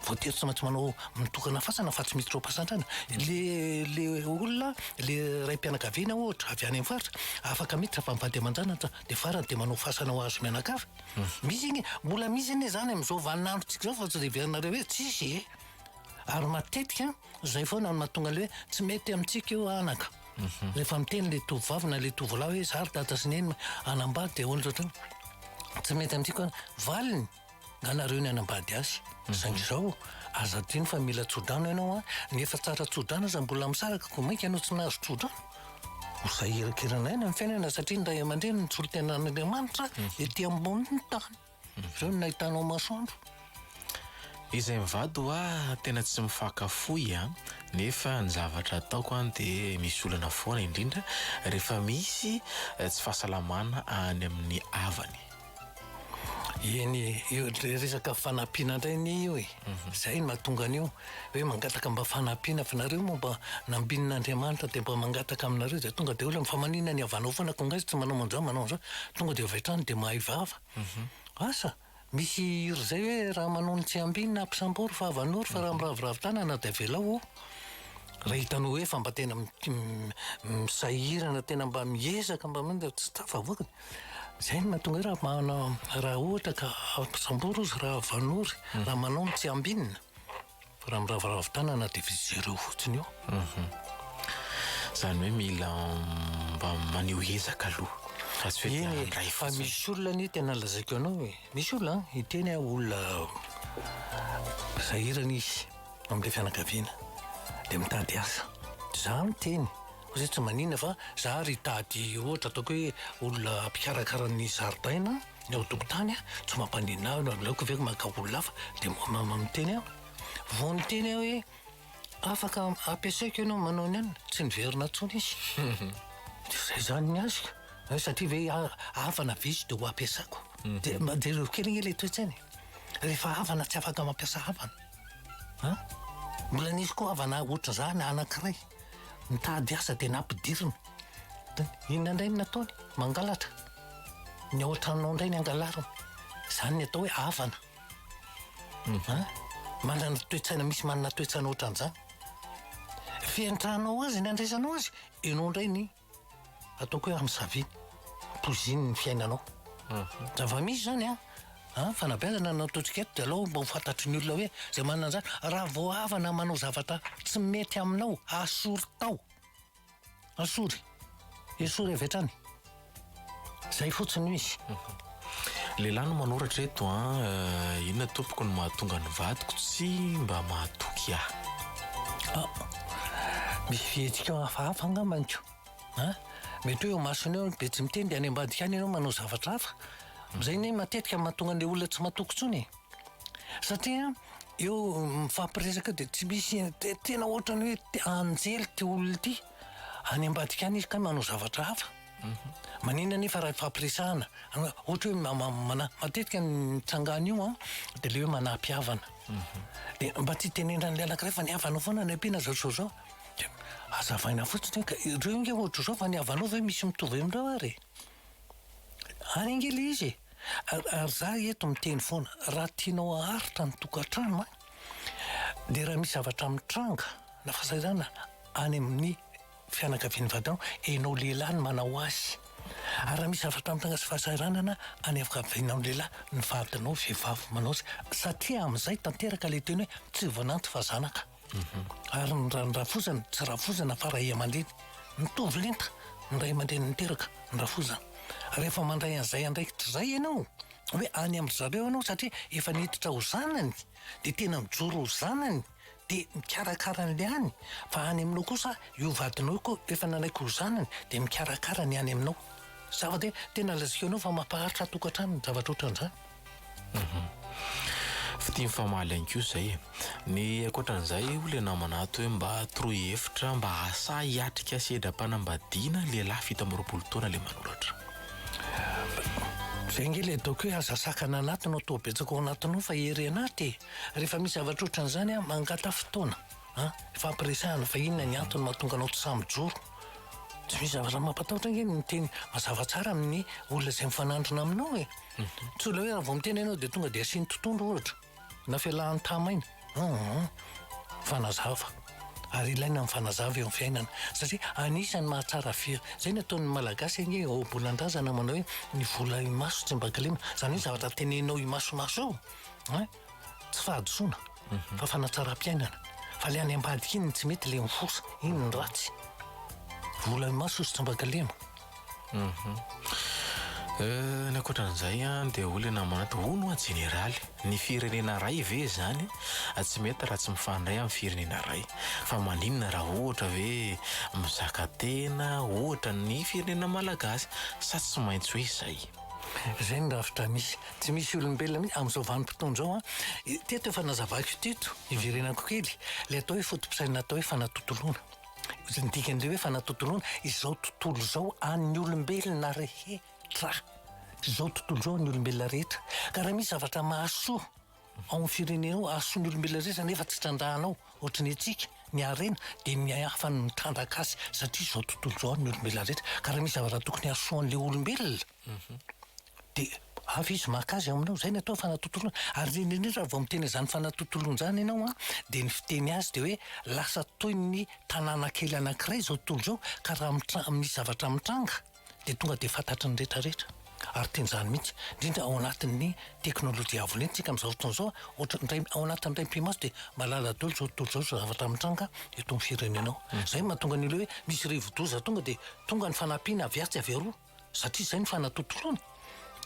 Voatery tsy maintsy manao mitokana fasana fa tsy miditra ao am-pasantrana. Le, le olona, le raim-pianakaviana ohatra, avy any amin'ny faritra, afaka miditra fa mivady aman-janatra, dia farany dia manao fasana ho azy mianakavy. Misy anie, mbola misy anie izany amin'izao vaninandrontsika izao fa tsy dia heverinareo hoe tsisy e! Ary matetika izay foana no mahatonga ilay hoe tsy mety amintsika io anaka. Rehefa miteny ilay tovovavy na ilay tovolahy hoe izaho ry dada sy neny hanambady dia hoana ohatrany, tsy mety amintsika hoana. Valiny. Na nareo ny hanambady azy. Saingy izao, aza adino fa mila tsodrano ianao an! Ny efa tsara tsodrano aza mbola misaraka koa mainka ianao tsy nahazo tsodrano? Ho sahy hirakirana aina ny fiainana satria ny ray aman-dreny no solontenan'Andriamanitra ety ambonin'ny tany. Ireo no nahitanao masoandro. Izay mivady ho ahy tena tsy mifaka fohy an! Nefa ny zavatra ataoko an dia misy olana foana indrindra rehefa misy tsy fahasalamana any amin'ny havany. Eny, io resaka fanampiana indray anie io e. Mhm. Zay no mahatonga an'io hoe mangataka mba fanampiana fa nareo moa mba nambinin'Andriamanitra dia mba mangataka aminareo dia tonga dia olona fa manina ny havanao foana ko ngasy tsy manao manjao manao an'izao tonga dia avy hatrany dia mahay vava. Mhm. Asa misy hira izay hoe raha manony tsy ambinina ampisambory fa havanoro fa raha mhm. miraviravy tanana dia avelao ho raha hitanao hoe fa mba tena misahirana tena mba miezaka mba tsy tafavoaka Izay no mahatonga raha manao raha ohatra ka sambory ozy raha vanory mhm. raha manao ny tsy ambinina raha miravoravo tanana dia fizereo fotsiny io mhm. zany hoe mila mba maneho ezaka aloha eh, fa misy olona ny tena lazaiko anao e misy olona hiteny a olona sahirana izy amin'ilay fianakaviana dia mitady asa za miteny Koa zay tsy maninona fa za ary hitady ohatra ataoko hoe olona mpikarakara ny zaridaina ny ao an-tokotany a, tsy mampaninona ahy na aleoko ve maka olona hafa dia miteny aho. Vao niteny aho hoe afaka ampiasaiko ianao manao ny anona, tsy niverina intsony izy. Dia izay izany ny azy ka. Hoe satria ve havana ve izy dia ho ampiasako. Dia jereo kely anie ilay toe-tsaina e. Rehefa havana tsy afaka mampiasa havana. An? Mbola nisy koa havana ohatr'izany anankiray. Nitady asa dia nampidirina. Inona indray no nataony? Mangalatra. Ny ao an-tranonao indray no angalariny. Izany no atao hoe havana. An? Manana toe-tsaina misy manana toe-tsaina ohatran'izany. Fenitra anao azy ny andraisanao azy, ianao indray ny Ataoko hoe am savy poiziny ny fiainanao. Zava misy zany a. Ah, fanabeazana no ataontsika eto de alao mba ho fantatry ny olona hoe zay manana an'zany raha vao havana manao zavatra tsy mety aminao asory tao. Asory. Esory avy hatrany. Zay fotsiny no izy. Lehilahy no manoratra eto an. Ah. Inona tompoko no mahatonga ny vadiko tsy mba mahatoky ahy? Ah, misy fihetsika hafahafa angamba ny ko. Ah, mety hoe eo masony eo be tsy miteny dia any ambadika any ianao manao zavatra hafa. Izay ny matetika mahatonga an'ilay olona tsy matoky intsony e. Satria eo mifampiresaka dia tsy misy tena ohatrany hoe anjely ity olona ity. Any ambadika any izy ka manao zavatra hafa. Maninona anefa raha hifampiresahana? Ohatra hoe mana, matetika ny tsangan'io an, dia le hoe manapy havana. Mhm. Dia mba tsy tenenan'ilay anankiray fa ny havana foana ny ampiana zao zao zao. Dia azavaina fotsiny ka ireo inge ohatra zao fa ny havanao ve misy mitovy amin'ireo ary? Any ange le izy e. Ary za eto miteny foana, raha tianao haharitra ny tokantrano an, dia raha misy zavatra mitranga na fahasahiranana any amin'ny fianakavian'i Vadan, enao lehilahy no manao azy ary raha misy zavatra mitana sy fahasahiranana any ankavianao lehilahy ny vadinao vehivavy manao azy satria amin'izay tanteraka ilay teny hoe tsy vananto fa zanaka ary ny rany rafozana tsy rafozana fa ray aman-dreny mitovy lenta ny ray aman-dreny miteraka ny rafozana rehefa mandray an'izay andraikitra izay ianao hoe any amin-dry zareo ianao satria efa niditra ho zanany dia tena mijoro ho zanany dia mikarakara an'ilay any, fa any aminao kosa io vadinao io koa efa nanaiky ho zanany dia mikarakara ny any aminao. Zava dia tena lazaiko anao fa mampaharitra tokantrano ny zavatra ohatran'izany. Fitia mifamaly ihany koa izay e. Ny ankoatran'izay hoy ilay namana ato hoe mba toroy hevitra mba asahy hiatrika sedram-panambadiana lehilahy fito amby roapolo taona ilay manoratra. Izay ange ilay ataoko hoe aza sakana anatiny ao toa betsaka ao anatinao fa ery anaty e. Rehefa misy zavatra ohatran'izany an, mangataha fotoana an, hifampiresahana fa inona ny antony mahatonga anao tsy sahy mijoro. Tsy misy zavatra mampatahotra ange ny miteny mazava tsara amin'ny olona izay mifanandrina aminao e. Tsy olona hoe raha vao miteny ianao dia tonga dia asiany totohondry ohatra, na fialahany tamaina. Hum. Mifanazava. Ary ilaina ny mifanazava eo amin'ny fiainana satria anisan'ny mahatsara firy. Izay no ataon'ny Malagasy ange ohabolan-drazana manao hoe ny vola imaso tsy mba kilema. Izany hoe zavatra teneninao imasomaso eo. Hein? Tsy fahadisoana fa fanatsaram-piainana. Fa le any ambadika iny no tsy mety le mifosa. Iny no ratsy. Vola eo maso sy tsambakalema. Euh, ny ankoatran'izay an dia hoy le namanty, hono hoa jeneraly, ny firenena ray ve izany tsy mety raha tsy mifandray amin'ny firenena ray? Fa maninona raha ohatra ve mizaka tena ohatra ny firenena malagasy? Sa tsy maintsy hoe izay? Izay ny rafitra misy. Tsy misy olombelona mihitsy amin'izao vanim-potoana izao an! Teto efa nazavaiko teto, iverenako kely, ilay atao hoe foto-pisainana atao hoe fanatontoloana. Izay ny dikan'ilay hoe fanatontoloana, izao tontolo izao an'ny olombelona rehetra. Izao tontolo izao an'ny olombelona rehetra. Ka raha misy zavatra mahasoa. Ao amin'ny firenenao hasoan'ny olombelona rehetra nefa tsy trandrahanao ohatry ny antsika ny harena dia ny hafa no mitrandraka azy satria izao tontolo izao ny olombelona rehetra ka raha misy zavatra tokony hasoan'ilay olombelona mhm. dia hafa izy maka azy aminao izay ny atao fanatontoloana ary indrindra indrindra raha vao miteny izany fanatontoloana izany ianao an dia ny fiteny azy dia hoe lasa toy ny tanàna kely anankiray izao tontolo izao ka raha mitra- misy zavatra mitranga dia tonga dia fantatry ny rehetra rehetra ary tiany izany mihitsy indrindra ao anatin'ny teknolojia avo lenta tsika amin'izao fotoana izao ohatra indray ao anatin'ny iray mpimaso dia malala dolo izao tontolo izao izao zavatra mitranga eto amin'ny firenena ao hmm. izay mahatonga ny olona hoe misy rivodoza tonga dia tonga ny fanampiana avy atsy avy aroa satria izay ny fanatontoloana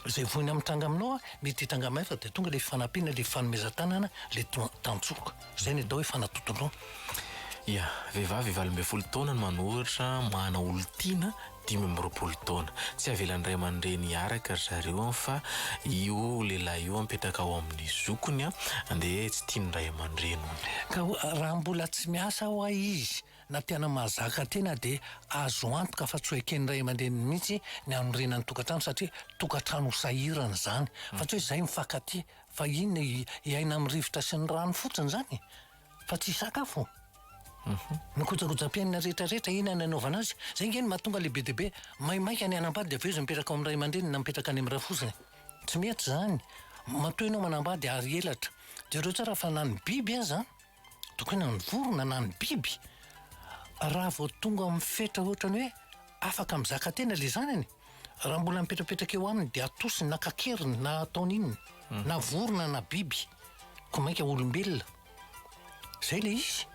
Izay voina mitranga aminao a, mety hitranga aminay fa dia tonga ilay fifanampiana, ilay fifanomezan-tanana, ilay tantsoka. Izay no atao hoe fanatontoloana. Ia, vehivavy valo ambin'ny folo taona no manoratra Mahana olon-tiana dimy amby roapolo taona. Tsy avelan'ny ray aman-dreny hiaraka ry zareo fa io lehilahy io mipetraka ao amin'ny zokiny dia tsy tian'ny ray aman-dreniny. Ka raha mbola tsy miasa hoa izy Na tena mahazaka tena dia azo antoka fa tsy ho eken'ny ray aman-dreniny mihitsy ny hanorina ny tokantrano satria tokantrano ho sahirana izany. Fa tsy hoe izay mifankatia fa inona hiaina amin'ny rivotra sy ny rano fotsiny izany e? Fa tsy hisakafo? Ny kojakojam-piainana rehetrarehetra inona ny anaovana azy? Izay ange no mahatonga le be dia be maimaika ny hanambady dia avy eo izy mipetraka ao amin'ny ray aman-dreniny na mipetraka any amin'ny rafozany. Tsy mety izany. Matoa ianao manambady ary elatra, jereo tsara fa na ny biby aza an! Tokena ny vorona na ny biby raha vao tonga amin'ny fetra ohatran'ny hoe afaka mizaka tena ilay zanany, raha mbola mipetrapetraka eo aminy dia atosiny na kakeriny na ataony inona, na vorona na biby, koa mainka olombelona. Izay ilay izy.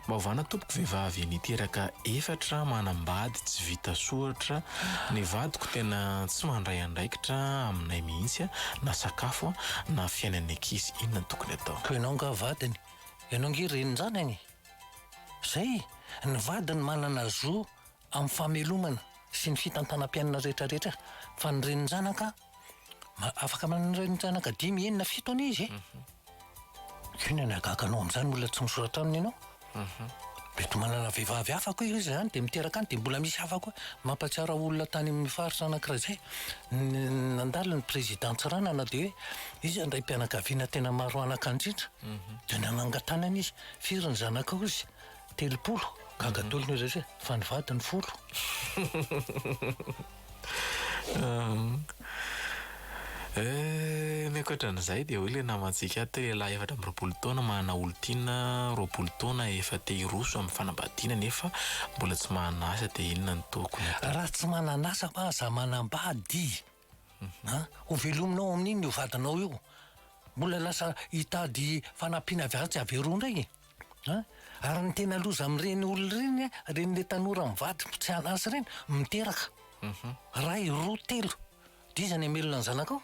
Maivana tompoko vehivavy niteraka efatra manambady tsy vita soratra ny vadiko tena tsy mandray andraikitra aminay mihitsy na sakafo na fiainan'ny ankizy inona tompoko. tokony atao. Koa ianao angaha vadiny? Ianao ange renin-janany e! Zay, ny vadiny manana zo amin'ny famelomana sy ny fitantanam-piainana rehetra rehetra, fa ny renin-janaka, afaka manana renin-janaka dimy, enina, fito anie izy e! Inona ny hagaganao amin'izany olona tsy misoratra aminy ianao? Mety manana vehivavy hafa koa izy izany dia miteraka any dia mbola misy hafa koa. Mampahatsiaro ahy olona tany amin'ny faritra anankiray izay nandalo ny président Tsiranana dia hoe izy handray mpianakaviana tena maro anaka indrindra dia nanangan-tanana izy, firy ny zanakao izy? telopolo, gaga daholo ny olona hoe fa ny vadiny folo. Ny ankoatra an'izay dia hoy ilay namantsika ato hoe lehilahy efatra amby roapolo taona manana olon-tiana roapolo taona efa te hiroso amin'ny fanambadiana nefa mbola tsy manana asa dia inona no tokony hatao? Raha tsy manana asa fa aza manambady an! Hovelominao amin'iny io vadinao io. Mbola lasa hitady fanampiana avy any tsy averao indray e! Ary ny tena loza amin'ireny olona ireny ireny le tanora mivady tsy hahala asa ireny miteraka iray roa telo dia iza ny hamelona ny zanakao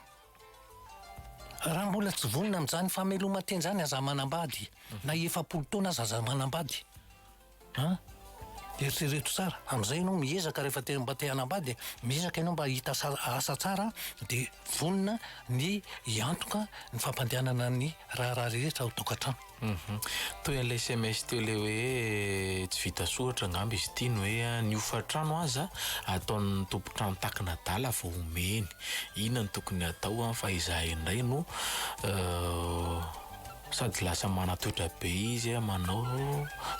raha mbola tsy vonona amin'izany fameloman-tena izany aza manambady na efapolo taona aza aza manambady an eritrereto tsara amin'izay ianao miezaka rehefa te mba te hanambady miezaka ianao mba hahita asa tsara dia vonona ny hiantoka ny fampandehanana ny raharaha rehetra ao an-tokantrano Uhum. Toy an'ilay sms teo ilay hoe tsy vita soratra angamba izy ity ny hoe ny hofan-trano aza ataon'ny tompon-trano takina adala vao omeny. Inona no tokony atao an fa izahay indray no sady lasa manatoetra be izy an manao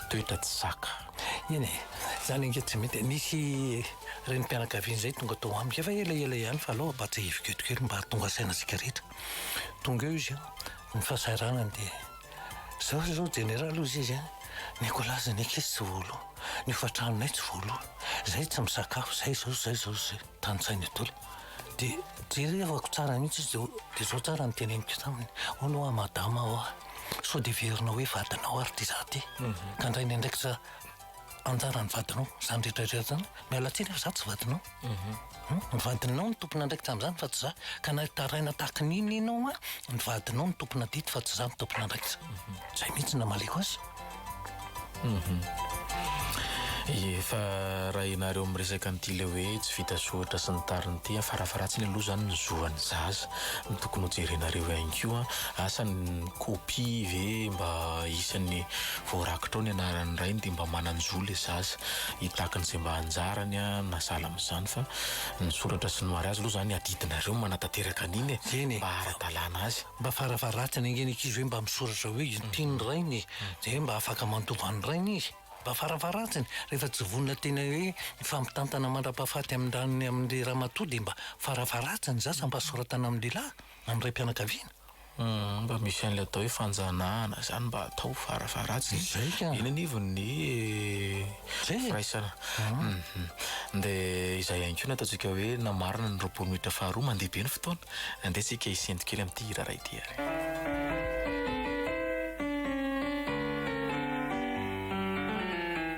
toetra tsy zaka. Eny e, izany ange tsy mety e. Nisy renim-pianakaviana izay tonga tao amiko efa elaela ihany fa alao ampatsahiviko eto kely mba hahatonga saina antsika rehetra. Tonga eo izy an. Ny fahasahiranany dia izao izy izao jeneraly hozy izy an, ny kolazy ny ankizy tsy voaloa, ny hofan-tranonay tsy voaloa, izay tsy misakafo, izay izao, izay izao, izay. Tanisainy io daholo. Dia jerevako tsara mihitsy izy dia dia izao tsara ny teneniko taminy, hono hoa madama hoa, sao dia heverinao hoe vadinao ary ity izaho ity, ka indray ny andraikitra Anjara ny vadinao, izany rehetra rehetra izany. Miala tsiny fa izaho tsy vadinao. Mhm. Ny vadinao no tompon'andraikitra amin'izany fa tsy izaho. Ka na hitaraina tahaka ny inona inona hoa, ny vadinao no tompon'adidy fa tsy izaho no tompon'andraikitra. Mhm. Izay mihitsy no namaliako azy. Efa mhm. raha ianareo miresaka an'ity ilay hoe tsy vita soratra sy ny tariny ity, farafaharatsiny aloha izany ny zoan'ny zaza no tokony hojerenareo ihany koa. Asa ny kopia ve mba isan'ny Vao rakitra ao ny anaran'ny rainy dia mba manan-jo ilay zaza hitaky ny izay mba anjarany na sahala amin'izany fa ny soratra sy ny mariazy aloha izany adidinareo no manatanteraka an'iny e! Eny e! Mba ara-dalàna azy. Mba fara-faharatiny ange ny ankizy hoe mba misoratra hoe io tian'ny rainy e! Izay hoe mba afaka mandova an'ny rainy izy. Mba fara-faharatiny rehefa tsy vonona tena hoe hifampitantana mandra-pahafaty amin-dranony amin'ilay ramatoa dia mba fara-faharatiny za samy mba soratana amin'ny lehilahy, amin'ny raim-pianakaviana. Humm mba misy an'ilay atao hoe fanjanahana zany mba atao farafaharatsiny Zay ka. iny anivo ny Zay e. firaisana humm de izay ihany koa no ataontsika hoe na marina ny roapolo minitra faharoa mandeha be ny fotoana andeha tsika hisento kely amin'ity hira iray ity ary.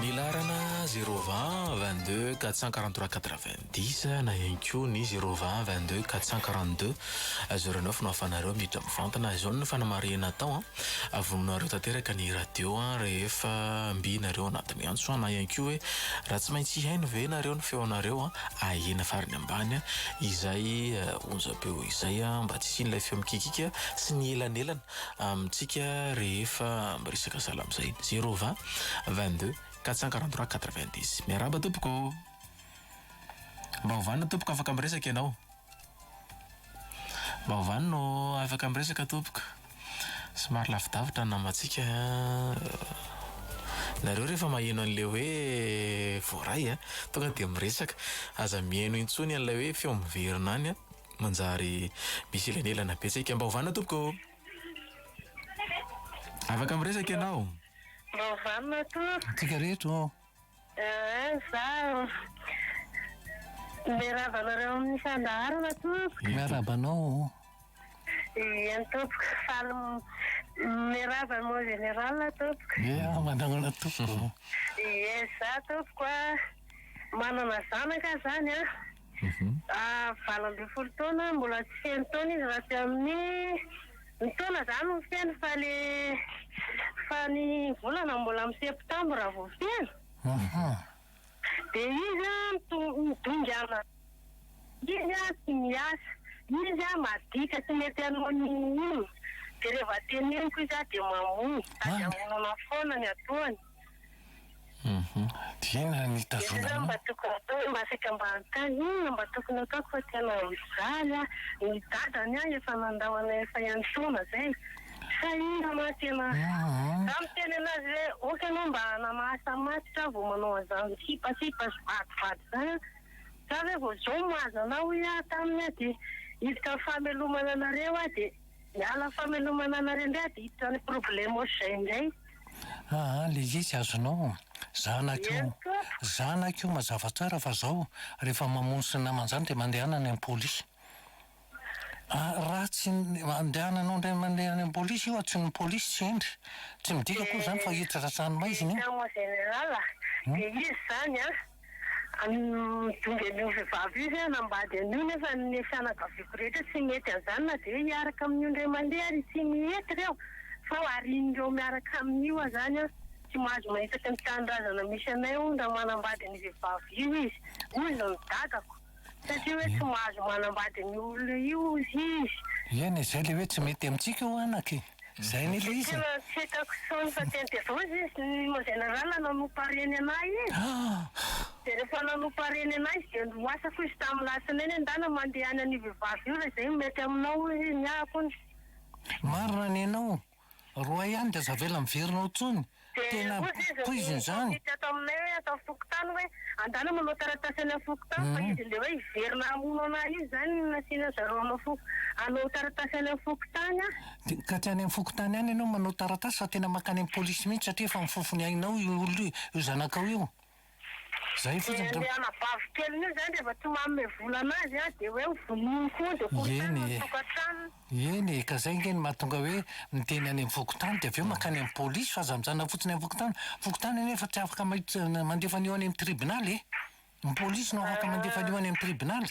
Ny laharana zéro vingt, vingt deux, quatre cent quarante trois, quatre vingt dix na ihany koa ny zéro vingt, vingt deux, quatre cent quarante deux, zéro neuf no ahafahanareo miditra mivantana. Izao no fanamarihana atao an, avonoinareo tanteraka ny radio rehefa mby nareo anatin'ny antso na ihany koa hoe raha tsy maintsy hihaino ve nareo ny feonareo ahena farany ambany izay onjam-peo izay mba tsy hisian'ilay feo mikikika sy ny elanelana amintsika rehefa miresaka sahala amin'izay zero vingt vingt deux quatre cent quarante trois quatre vingt dix miarahaba tompoko mba hovana tompoko afaka miresaka ianao Mba ovany no afaka miresaka tompoko. Somary lavidavitra ny nambantsika an. Nareo rehefa maheno an'ilay hoe voaray an, tonga dia miresaka. Aza miheno intsony an'ilay hoe feo miverina any an, manjary misy elanelana betsaka. Mba ovana tompoko o. Afaka miresaka ianao. Mba ovany matoa. Antsika rehetra o. Eeh zaho miarahaba anareo amin'ny fandaharana tompoko. Miarahaba anao o. Eny tompoko faly miarahaba anao général tompoko. Eeh manahoana tompoko. Eeh za tompoko a manana zanaka zany a. Valo ambin'ny folo taona, mbola tsy feno taona izy raha tsy amin'ny, ny taona zany no feno fa le, fa ny volana mbola amin'ny septembre vao feno, de izy an midongy an, izy an tsy miasa, izy an maditra tsy mety hanao n'inon'inona, de reva teneniko izy an de mamono, sady amonoana foana ny ataony. Dia inona no hitazonanao? Inona mba tokony hatao hoe masaka mba hanontany inona mba tokony hataoko fa tena mijaly aho, ny dadany aho efa nandao anay efa iantoana zay sa inona ma tena za miteny anazy hoe ok anao mba namahasa matotra aho vao manao anzany kipasipa sy vadivady zany an sa ve vao zao mahazo anao hoy aho taminy dia hiditra am famelomana anareo aho dia Miala famelomana anareo indray adiditra any problemos zay indray. Aa le izy azonao zanak'io zanak'io mazava tsara fa zao rehefa mamono sy namany zany de mandehana any am polisy a raha tsy andehananao indray mandeha any am polisy io tsy ny polisy tsy hendry tsy midika akory zany fa hiditra ranomaizina io. Dia izy zany an. Nidongy an'io vehivavy io izy hanambady an'io nefa ny fianakaviako rehetra tsy mety an'izany na dia hiaraka amin'io indray mandeha ary ity mihety re aho sao harian'ireo miaraka amin'io aho izany an! Tsy mahazo mahitaky ny tanindrazana misy anay hono raha manambady ny vehivavy io izy hoy ny dadako. Satria hoe tsy mahazo manambady ny olona io hozy izy. Eny e, zay le hoe tsy mety amintsika o anaka e! Zay anie le izy e! Tena tsy hitako intsony fa teny de avy eo izy izy ny mandeha niarahana nanompa reny anah izy de rehefa nanompa reny anah izy de niroasako izy tamin'ny latsinainy hoe ndana mandeha any an'io vehivavy io raha izay no mety aminao hozy izy ny ahy hono. Marina ny anao Roa ihany dia aza avela miverina ao intsony. Tena poizina izany. Dia hoy izy ny comite ato aminay hoe ato amin'ny fokontany hoe andehanao manao taratasy any amin'ny fokontany fa izy ilay hoe hiverina hamono anah io izany no nasiana zareo hanao foko hanao taratasy any amin'ny fokontany an. Dia ka tsy any amin'ny fokontany any ianao manao taratasy fa tena mankany amin'ny polisy mihitsy satria efa amin'ny fofony ainao io olona io, io zanakao io. Ilay anabavy keliny io izany rehefa tsy manome vola anazy an, dia hoe ho vonoiny koa, dia korontana ny tokantranony. Eny e, ka zay ange no mahatonga hoe miteny any amin'ny fokontany, dia avy eo mankany amin'ny polisy, fa aza mijanona fotsiny amin'ny fokontany, fokontany anefa tsy afaka mandefa an'io any amin'ny tribonaly e, ny polisy no afaka mandefa an'io any amin'ny tribonaly.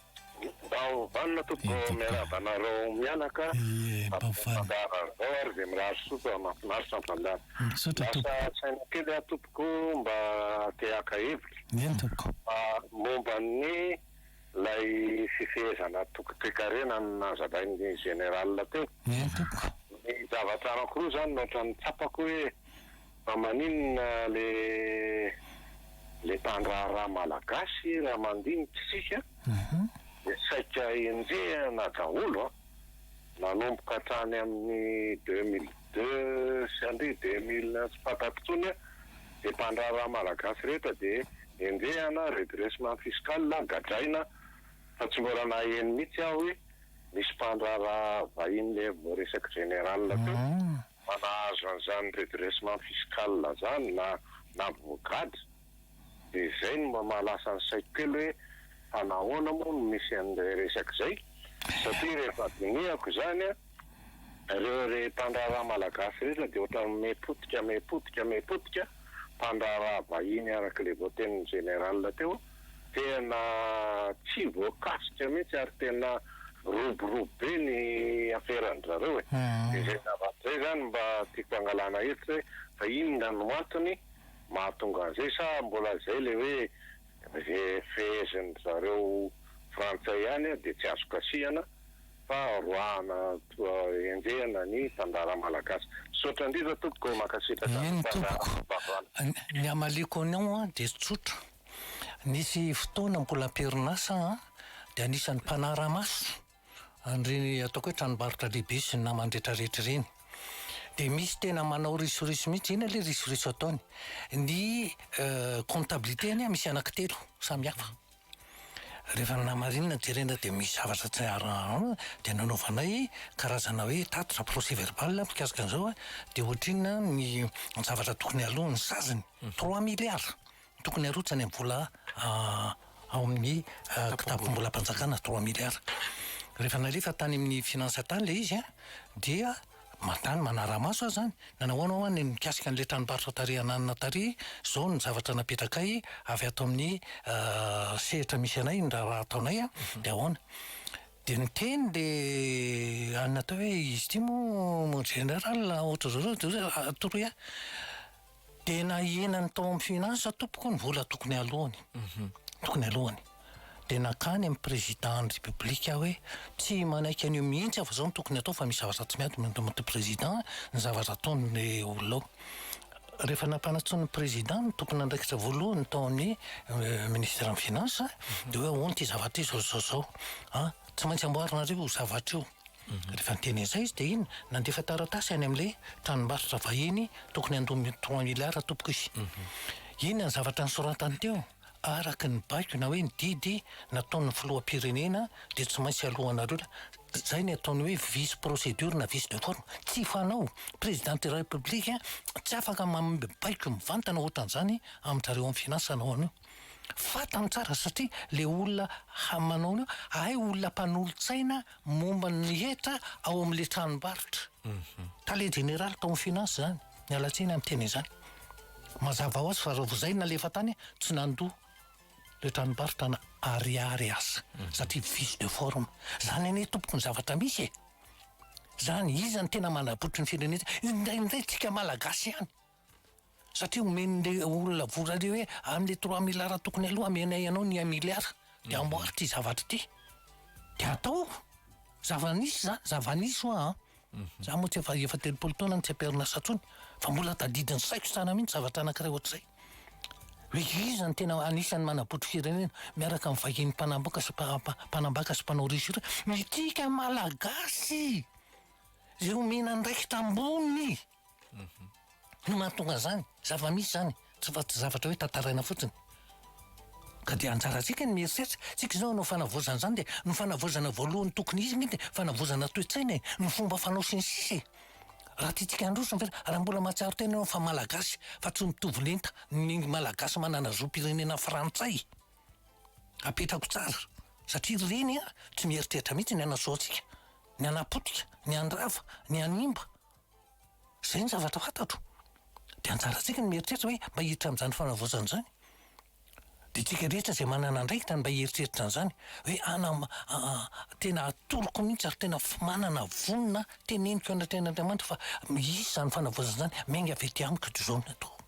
Vao vanona tompoko miarahaba anareo mianaka Fandaharan izao ary dia mirary soa fa mahafinaritra ny fandaharana Lasa saina kely aho tompoko mba te haka hevitra fa momba ny ilay fifehezana toky toekarena nazavain'ny général teo Ny zavatra anankiroa izany no ohatran'ny tsapako hoe Fa maninona le le mpandraharaha malagasy raha mandinika isika dia saika enjehina daholo an! Nanomboka hatrany amin'ny deux mille deux sy andeha deux mille un tsy fantako intsony an! Dia mpandraharaha malagasy rehetra dia enjehina, redressement fiscal, gadraina, fa tsy mbola naheno mihitsy aho hoe misy mpandraharaha vahiny lery voaresak'i Général teo. Fa nahazo an'izany redressement fiscal zany na na brogade de zay no mba mahalasa ny saiko kely hoe fa nahoana moa no misy an'izay resaka izay satria rehefa dinihako izany an ireo re mpandraharaha malagasy rehetra de ohatran'ny me potika me potika me potika mpandraharaha vahiny araka ilay voatenin'ny général teo Tena tsy voakasika mihitsy ary tena roborobo be ny aferan-dry zareo e! Dia izay zavatra izay izany mba tiako hangalana hevitra hoe fa inona no antony mahatonga an'izay sa mbola izay ilay hoe izay fehezin'dry zareo frantsay ihany dia tsy azo kasihana fa roahana toa enjehina ny mpandraharaha malagasy. Misaotra indrindra tompoko e! Mankasitraka ny fandaharan'ny vaovao. Ny hamaliako anao dia tsotra. Nisy fotoana mbola am-perinasa aho dia anisan'ny mpanara-maso an'ireny ataoko hoe tranombarotra lehibe sy ny namany rehetrarehetra ireny. Dia misy tena manao risoriso mihitsy, inona ilay risoriso ataony? Ny comptabilité anie misy anaky telo samy hafa. Rehefa namarinina jerena dia misy zavatra tsy ara-, dia nanaovanay karazana hoe tatitra, procès verbal, mikasika an'izao an, dia ohatrinona ny zavatra tokony aloha ny saziny? Trois milliards! Tokony harotsany amin'ny vola ao amin'ny kitapom-bolam-panjakana trois milliards. Rehefa nalefa tany amin'ny finances tany ilay izy dia mandany manara-maso aho izany, nanao ahoana hoa ny mikasika an'ilay tranombarotra tary Ananina tary, izao ny zavatra napetrakay avy ato amin'ny sehatra misy anay ny raharaha ataonay dia ahoana. Dia niteny ilay anona teo hoe izy ity moa mon général ohatr'izao zao, toroy ahy. Dia nahenany tao amin'ny Finance tompoko ny vola tokony aloany. Mhm. Tokony aloany. Dia nankany amin'ny président ny république aho hoe tsy manaiky an'io mihitsy aho fa izao no tokony atao fa misy zavatra tsy miady mandomaty président ny zavatra ataon'ny olona ao. Rehefa nampanantsoin'ny président ny tompon'andraikitra voalohany tao amin'ny euh, ministère ny Finance dia hoe ahoana ity zavatra ity zao zao zao. Ah, tsy maintsy amboarinareo io zavatra io. Rehefa niteny an'izay izy dia iny nandefa taratasy any amin'ilay tranombarotra vahiny tokony handoa trois milliards tompoko izy. Inona ny zavatra nosoratany teo? Araka ny baiko na hoe ny didy nataon'ny filoham-pirenena dia tsy maintsy aloanareo izay ny ataony hoe vice procédure na vice de forme. Tsy fanao! Président de la République tsy afaka manome baiko mivantana ohatran'izany amin-dry zareo amin'ny finance anao anio. Fantany tsara satria le olona hamanao io hay olona mpanolotsaina momba ny hetra ao amin' le tranombarotra. Tale jeneraly tao amin' ny Finances zany. Miala tsiny amin' ny teny izany. Mazava ho azy fa raha vao izay nalefa tany tsy nandoa le tranombarotra na ariary aza satria vice de forme. Zany anie tompoko ny zavatra misy e! Zany iza no tena manabotry ny firenena? Indraindray tsika malagasy ihany. satria omen'le olona vola le hoe amle trois milliards tokony aloha amenay anao ny un milliard de mhm. amboary ty zavatra ty de atao zava-nisy zany zava-nisy hoa an mhm. za moa tsy efa efa telopolo taona no tsy am-perinasa tsony fa mbola tadidin'ny saiko tsara mihitsy zavatra anankiray ohatr'izay hoe iza ny tena anisan'ny manabotry firenena miaraka amin'ny vahiny mpanamboka sy mpanambaka sy mpanao risira mitika malagasy zay omena andraikitra ambony No mahatonga zany, zava-misy zany, tsy fa tsy zavatra hoe tantaraina fotsiny. Ka dia anjarantsika ny mieritreritra, tsika izao hanao fanavaozana izany dia ny fanavaozana voalohany tokony hisy angamba dia fanavaozana toe-tsaina e, ny fomba fanao sy ny sisa e. Raha tiantsika handroso ny firenena, raha mbola mahatsiaro tena ianao fa Malagasy fa tsy mitovy lenta ny Malagasy manana zom-pirenena frantsay, apetrako tsara satria ireny tsy mieritreritra mihitsy ny hanasoa antsika, ny hanapotika, ny handrava, ny hanimba. Izay ny zavatra fantatro. Dia anjarantsika ny mieritreritra hoe mba hiditra amin'izany fanavaozana izany. Dia isika rehetra izay manana andraikitra ny mba hieritreritra an'izany hoe hanam- tena atoroko mihitsy ary tena manana vonona teneniko anatrehan'Andriamanitra fa hisy izany fanavaozana izany. Miainga avy ety amiko toy izao ny atao.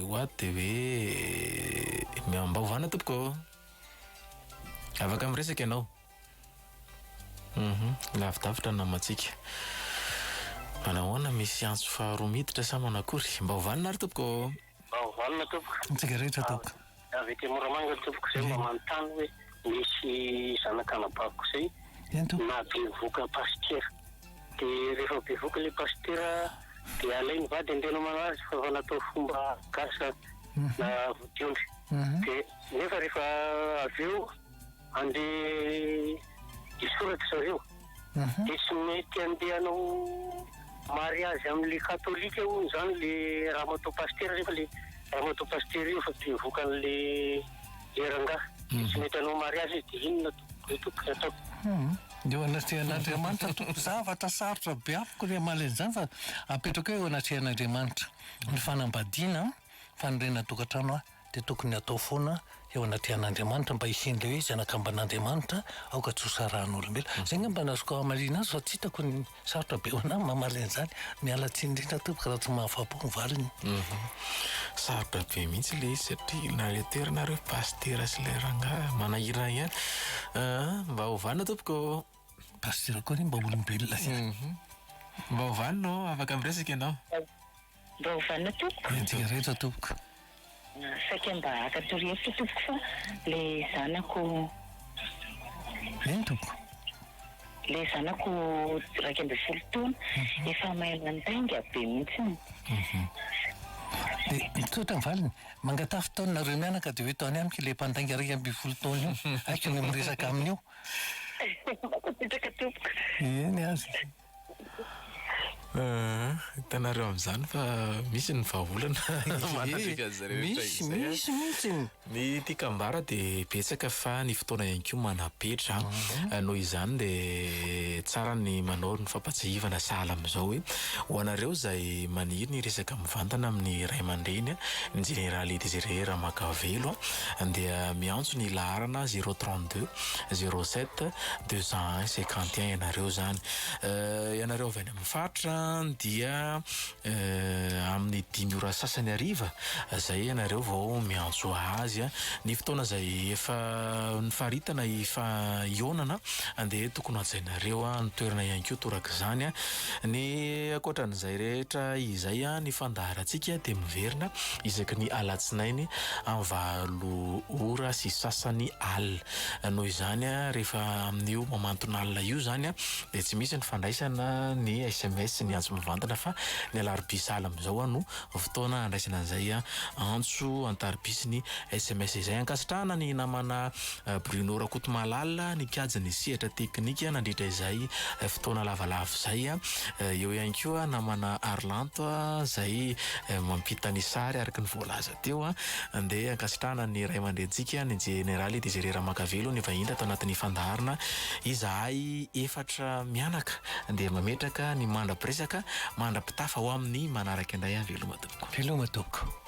Ho ato dia hoe miao mba hovana tompoko ô. Afaka miresaka ianao. Uhum, lavidavitra ny namantsika. Manao ahoana, misy antso faharoa miditra sa manao akory? Mba hovanona ary tompoko ô. Mba hovanona tompoko. Antsika rehetra tompoko. Avy aty Moramanga tompoko izay mba manontany hoe misy zanak'anabaviko izay nahabevohoka pasitera. De rehefa bevoka le pasitera de alainy vady andeana manao azy fa efa natao fomba gasy zany na vodiondry de nefa rehefa avy eo andeha hisoraty zareo de tsy mety andeha hanao mariazy amle katolika hono zany le ramatoa pasitera nefa le ramatoa pasitera io efa bevoka anle le rangahy de tsy mety hanao mariazy izy de inona Dia eo anatrehan'Andriamanitra tompoko. Zavatra sarotra be amiko ny hamaly an'izany fa apetrako eo anatrehan'Andriamanitra ny fanambadiana, fanorenana tokantrano an, dia tokony hatao foana eo anatrehan'Andriamanitra mba hisian'ilay hoe zanakamban'Andriamanitra aoka tsy ho sarahan'olombelona. Izay angamba no azoko hamaliana azy fa tsy hitako ny. Sarotra be ho anao ny mamaly an'izany. Miala tsiny indrindra tompoko raha tsy mahafapo ny valiny. Mhm. Sarotra be mihitsy ilay izy satria na ilay toerana ary hoe pasitera sy ilay rangahy manahirana ihany. Ah, mba ovanao tompoko ô. Pasitera koa anie mba olombelona ihany. Mhm. Mba ovanao ô, afaka miresaka ianao. Mba ovanao tompoko. Entika rehetra tompoko. Saika mba haka torohevitra tompoko fa le zanako. Eny tompoko. Le zanako iraika ambin'ny folo taona efa mahay mandainga be mihitsiny. Dia mitsotra ny valiny, mangatafy tao nareo mianaka dia hoe tao any amiko ilay mpandainga iraika ambin'ny folo taona io, hay keo miresaka aminy eo. Mankasitraka tompoko. Eny aza. Hitanareo amin'izany fa misy ny vahaolana manatrika an'izy ireo rehetra izay. Misy, misy mihitsy. Ny tiako ambara dia betsaka fa ny fotoana ihany koa manapetra. Ah. Noho izany dia tsara ny manao ny fampatsiahivana sahala amin'izao hoe ho anareo izay maniry ny hiresaka mivantana amin'ny ray aman-dreny, ny Jeneraly Désiré Ramakavelo dia miantso ny laharana zéro trente deux. zéro sept deux cent un cinquante et un ianareo zany ianareo avy any amin'ny faritra dia amin'ny dimy ora sasany hariva zay ianareo vao miantso azy a ny fotoana zay efa nifaritana efa hihaonana dia tokony hajainareo a ny toerana ihany koa toraka izany a ny ankoatran'izay rehetra izay a ny fandaharantsika dia miverina isaky ny alatsinainy amin'ny valo ora sy sasany alina. Noho izany, rehefa amin'io mamanton'alina io izany dia tsy misy ny fandraisana ny sms, ny antso mivantana fa ny alarobia sahala amin'izao no fotoana handraisana an'izay antso an-tariby sy ny sms izay. Ankasitrahana ny namana Bruno Rakotomalala nikajy ny sehatra teknika nandritra izay fotoana lavalava izay. Eo ihany koa namana Arlanto izay mampita ny sary araka ny voalaza teo. Andeha ankasitrahana ny ray aman-drentsika ny Jeneraly Desire Ramakavelo nivahiny tato anatin'ny fandaharana Izahay efatra mianaka dia mametraka ny mandra-piresaka mandra-pitafa ho amin'ny manaraka indray an! Veloma tompoko! Veloma tompoko!